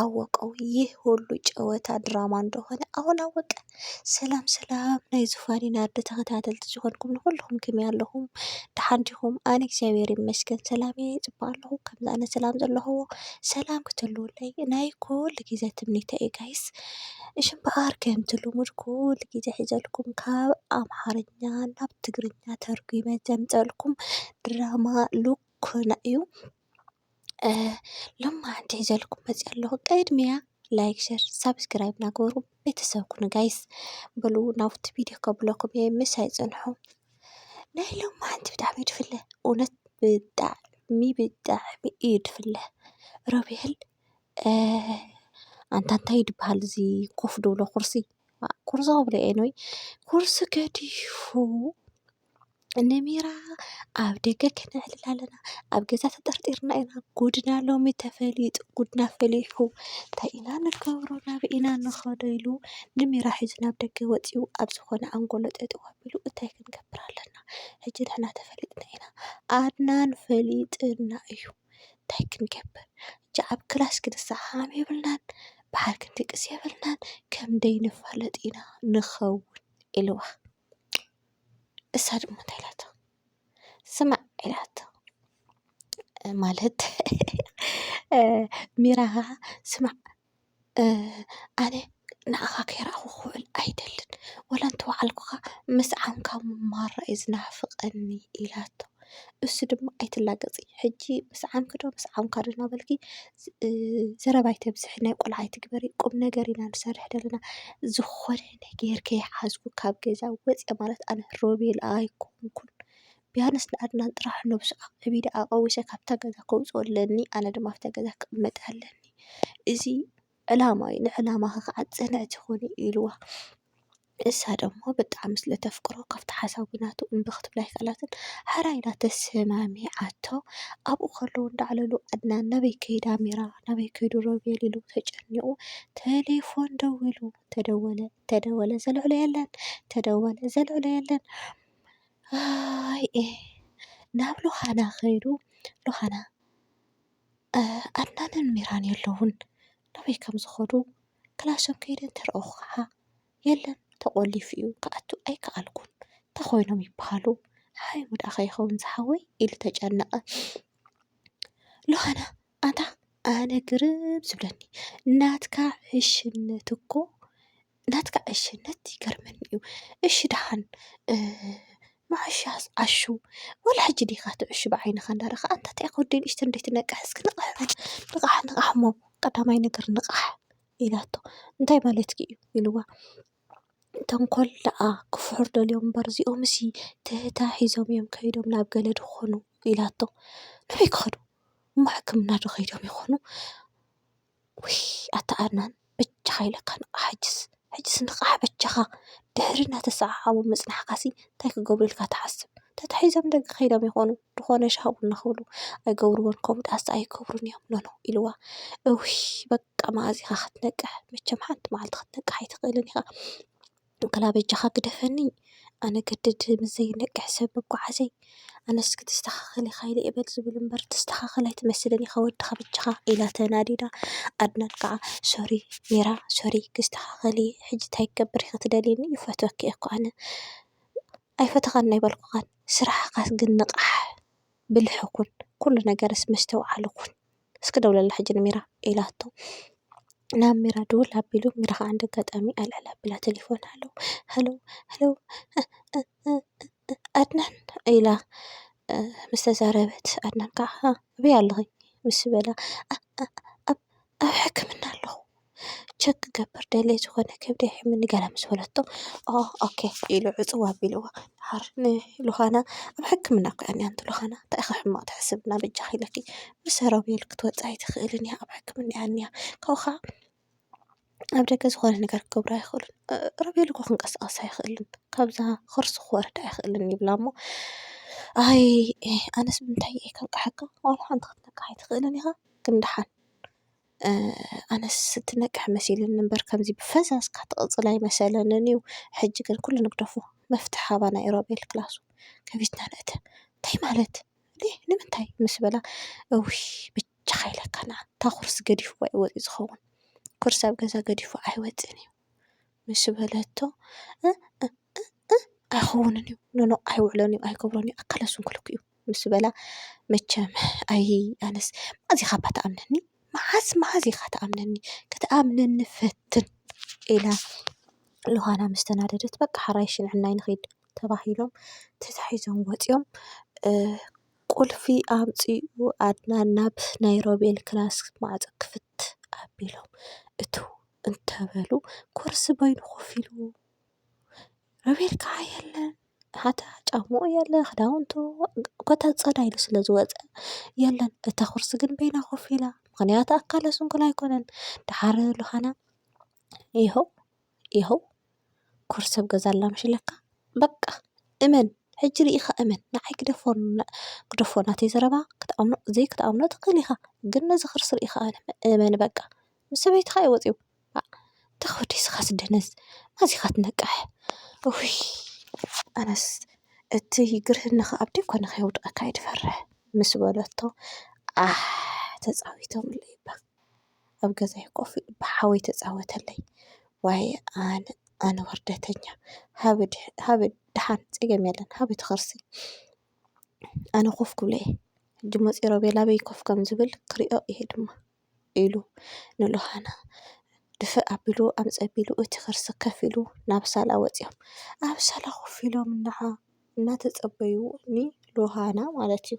ኣወቀው ይህ ሁሉ ጨወታ ድራማ እንደሆነ ኣሁን ኣወቀ። ሰላም ሰላም ናይ ዙፋን ናርዲ ተኸታተልቲ ዝኾንኩም ንኹልኹም ክመይ ኣለኹም ደሓን ዲኹም? ኣነ እግዚኣብሔር ይመስገን ሰላም እየ ይፅበ ኣለኹ ከምዚ ኣነ ሰላም ዘለኹዎ ሰላም ክትህልወለይ ናይ ኩሉ ግዜ ትምኒተይ እዩ ጋይስ። እሺ እምበኣር ከምቲ ልሙድ ኩሉ ግዜ ሒዘልኩም ካብ ኣምሓርኛ ናብ ትግርኛ ተርጒመ ዘምፀልኩም ድራማ ሉኮና እዩ። ሎማዓንቲ ሒዘልኩም መፂኣ ኣለኹ ቅድሚያ ላይክ ሸር ሳብስክራይብ ናገበሩ ቤተሰብ ኩኑ ጋይስ በሉ ናብቲ ቪድዮ ከብለኩም እየ ምሳይ ፅንሑ ናይ ሎማዓንቲ ብጣዕሚ እዩ ድፍለ እውነት ብጣዕሚ ብጣዕሚ እዩ ድፍለ ሮቤል ኣንታ እንታይ እዩ ድብሃል እዚ ኮፍ ድብሎ ኩርሲ ኩርሲ ክብሎ እየ ኒይ ኩርሲ ገዲፉ ንሜራ ኣብ ደገ ክነዕልላ ኣለና ኣብ ገዛ ተጠርጢርና ኢና ጉድና ሎሚ ተፈሊጡ ጉድና ፈሊሑ እንታይ ኢና ንገብሮ ናበይ ኢና ንኸዶ ኢሉ ንሜራ ሒዙ ናብ ደገ ወፂኡ ኣብ ዝኾነ ኣንጎሎ ጠጠው ኣቢሉ እንታይ ክንገብር ኣለና ሕጂ ንሕና ተፈሊጥና ኢና ኣድናን ፈሊጥና እዩ እንታይ ክንገብር ሕጂ ኣብ ክላስ ክንሰዓዓም የብልናን ብሓደ ክንድቅስ የብልናን ከም ደይንፋለጥ ኢና ንኸውን ኢልዋ። እሳ ድማ እንታይ ኢላቶ ስማዕ ኢላቶ ማለት ሚራ ኻዓ ስማዕ ኣነ ንዓኻ ከይራኣኹ ክውዕል ኣይደልን ወላ እንተወዓልኩኻ ምስ ዓንካ ምማር እዩ ዝናፍቀኒ ኢላቶ። እሱ ድማ ኣይትላገፂ ሕጂ ምስዓምኪ ዶ ምስዓምካ ዶ እናበልኪ ዘረባ ኣይተብዝሒ ናይ ቆልዓ ኣይትግበሪ ቁም ነገር ኢና ንሰርሕ ዘለና ዝኾነ ነገር ከይሓዝኩ ካብ ገዛ ወፂኣ ማለት ኣነ ሮቤል ኣይኮንኩን ቢያንስ ንኣድናን ጥራሕ ነብሱ ኣዕቢደ ኣቐዊሰ ካብታ ገዛ ከውፀኦ ኣለኒ ኣነ ድማ ኣብታ ገዛ ክቕመጥ ኣለኒ እዚ ዕላማ እዩ ንዕላማኺ ከዓ ፅንዕቲ ኹኒ ኢልዋ። እሳ ደሞ ብጣዕሚ ስለ ተፍቅሮ ካብቲ ሓሳዊ ናቱ እምቢ ክትብል ኣይከኣላትን ሐራይ ኢላ ተሰማሚዓቶ ኣብኡ ከለዉ እንዳዕለሉ ኣድናን ናበይ ከይዱ ኣሚራ ናበይ ከይዱ ሮቤል ኢሉ ተጨኒቑ ተሌፎን ደዊሉ ተደወለ ተደወለ ዘልዕሎ የለን ተደወለ ዘልዕሎ የለን ኣይ እ ናብ ሎኻና ከይዱ ሎኻና ኣድናንን ሚራን የለዉን ናበይ ከም ዝኸዱ ክላሶም ከይደ እንተረኣኹ ኸዓ የለን ተቖሊፉ እዩ ክኣቱ ኣይከኣልኩን እንታይ ኮይኖም ይበሃሉ ሓይሙ ድኣ ከይከውን ዝሓወይ ኢሉ ተጨነቐ ዮሃና ኣታ ኣነ ግርም ዝብለኒ ናትካ ዕሽነት እኮ ናትካ ዕሽነት ይገርመኒ እዩ እሺ ደሓን መዓሻስ ዓሹ ወላ ሕጂ ዲኻ ትዕሹ ብዓይንኻ እንዳረኣኻ ኣንታ እንታይ ኢኻ ወደይ ንእሽተይ እንድርይ ትነቅሕ እስኪ ንቕሕ በል ንቓሕ ንቓሕ እሞ ቀዳማይ ነገር ንቓሕ ኢላቶ እንታይ ማለትኪ እዩ ኢልዋ ተንኮል ደኣ ክፍሑር ደልዮም እምበር እዚኦምሲ ትህተ ሒዞም እዮም ከይዶም ናብ ገለድ ክኾኑ ኢላቶ ኣበይ ክኸዱ እሞ ሕክምና ዶ ከይዶም ይኾኑ? ውይ ኣታ ኣድናን በጃኻ ኢለካ ንቓሕ ሕጅስ ሕጅስ ንቓሕ በጃኻ ድሕሪ እናተሰዓዓሙ ምፅናሕካሲ እንታይ ክገብሩ ኢልካ ትሓስብ ተታሒዞም ደገ ከይዶም ይኾኑ ዝኾነ ሻሂ ቡና ክብሉ ኣይገብርዎን ከምኡ ድኣስ ኣይገብሩን እዮም ኖኖ ኢልዋ እውይ በቃ መኣዝ ኢኻ ክትነቅሕ መቸም ሓንቲ መዓልቲ ክትነቅሕ ኣይትኽእልን ኢኻ። ወላ በጃኻ ግደፈኒ ኣነ ገድድ ምስ ዘይነቅሕ ሰብ ምጉዓዘይ ኣነስ ክትስተኻኸል ኢኻ ኢለ እየ በል ዝብል እምበር ትስተኻኸል ኣይትመስልን ኢኻ ወድኻ በጃኻ ኢላ ተናዲዳ ኣድናን ከዓ ሶሪ ሜራ ሶሪ ክስተኻኸል እየ ሕጂ እንታይ ክገብር ኢኺ ትደልይኒ ይፈትወኪ እየ እኮ ኣነ ኣይፈተኻን ናይ በልኩኻን ስራሕኻስ ግን ንቓሕ ብልሒ ኩን ኩሉ ነገርስ መስተውዓሊ ኩን እስኪ ደውለላ ሕጂ ንሚራ ኢላቶ ናብ ሚራ ድውል ኣቢሉ ሚራ ከዓ እንደ ኣጋጣሚ ኣልዕል ኣቢላ ቴሌፎን ሃሎ ሃሎ ሃሎ ኣድናን ኢላ ምስ ተዛረበት ኣድናን ከዓ ኣበይ ኣለኺ ምስ በላ ኣብ ሕክምና ኣለኹ ቸክ ክገብር ደልየ ዝኾነ ከብደይ ይሕምኒ ገለ ምስ በለቶ ኦኬ ኢሉ ዕጽው ኣቢልዋ ደሓር ንሉካና ኣብ ሕክምና እኮ እያ ዝኒኣ ኣንቲ ሉካና እንታይ ኢኺ ሕማቕ ትሕስቢ እና በጃኺ ኢለኪ ብሰራዊል ክትወጺ ኣይትኽእልን እያ ኣብ ሕክምና እያ ዝኒኣ ካብኡ ኸኣ ኣብ ደገ ዝኾነ ነገር ክገብሩ ኣይኽእሉን ሮቤል እኮ ክንቀሳቐስ ኣይኽእልን ካብዛ ከርሱ ክወርድ ኣይኽእልን ይብላ እሞ ኣይ ኣነስ ብምንታይ እየ ከንቅሓካ ዋላ ሓንቲ ክትነቅሕ ኣይትኽእልን ኢኻ ግን ደሓን ኣነስ እትነቅሕ መሲሉኒ እምበር ከምዚ ብፈዛዝ ትቅጽል ኣይመሰለንን እዩ ሕጂ ግን ኩሉ ንግደፎ መፍትሒ ሃባና እዩ ሮቤል ክላሱ ከፊትና ንእተ እንታይ ማለት እንዴ ንምንታይ ምስ በላ እውይ ብቻካ ኢለካ ንዓ እታ ኩርሲ ገዲፍዋ እዩ ወጺኡ ዝከውን ኩርሲ ኣብ ገዛ ገዲፉ ኣይወጽእን እዩ ምስ በለቶ እእእ ኣይኸውንን እዩ ኖኖ ኣይውዕሎን እዩ ኣይገብሮን እዩ ኣካለ ስንኩል እኮ እዩ ምስ በላ መቸም ኣይ ኣነስ መዓዝ ኢኻ እባ ትኣምነኒ መዓዝ መዓዝ ኢኻ ትኣምነኒ ክትኣምነኒ ፈትን ኢላ ዮሃና ምስ ተናደደት በቃ ሕራይ ሽንዕናይ ንኺድ ተባሂሎም ተታሒዞም ወፂኦም ቁልፊ ኣምፂኡ ኣድናን ናብ ናይ ሮቤል ክላስ ማዕፆ ክፍት ኣቢሎም እትው እንተበሉ ኮርሲ በይኑ ኮፍ ኢሉ ሮቤል ከዓ የለን ሓታ ጫምኡ የለን ክዳውንቱ ኮታ ፀዳ ኢሉ ስለ ዝወፀ የለን እታ ኹርሲ ግን በይና ኮፍ ኢላ ምኽንያቱ ኣካለ ስንኩል ኣይኮነን ደሓር ሉኻና ይሃው ይሃው ኩርሲ ኣብ ገዛ ኣላ ምሽ ኢለካ በቃ እመን ሕጂ ርኢኻ እመን ንዓይ ግደፎ ናተይ ዘረባ ክትኣምኖ ዘይክትኣምኖ ትኽእል ኢኻ ግን ነዚ ኽርሲ ርኢኻ እመን በቃ ምስ ሰበይትኻ እዩ ወፂኡ። ተወዲ ስኻስ ደነዝ ማዚኻ ትነቅሕ እውይ ኣነስ እቲ ግርህኒ ኸኣ ኣብ ደኮን ከይወድቀካ እየ ዝፈርሕ ምስ በለቶ ዓሕ ተጻዊቶምሉ እባ ኣብ ገዛይ ኮፍ ኢሉ እባ ሓወይ ተጻወተለይ ዋይ ኣነ ኣነ ወርደተኛ ሃበ ሃበ ደሓን ጸገም የለን ሃበ እቲ ኸርሲ ኣነ ኮፍ ክብሎ እየ ሕጂ መጺኡ ሮቤል ኣበይ ኮፍ ከም ዝብል ክሪኦ እየ ድማ። ኢሉ ንሉሃና ድፍእ ኣቢሉ ኣምፀ ኣቢሉ እቲ ኸርሲ ከፍ ኢሉ ናብ ሳላ ወፂኦም ኣብ ሳላ ኮፍ ኢሎም እንሃ እናተፀበዩ ንሉሃና ማለት እዩ።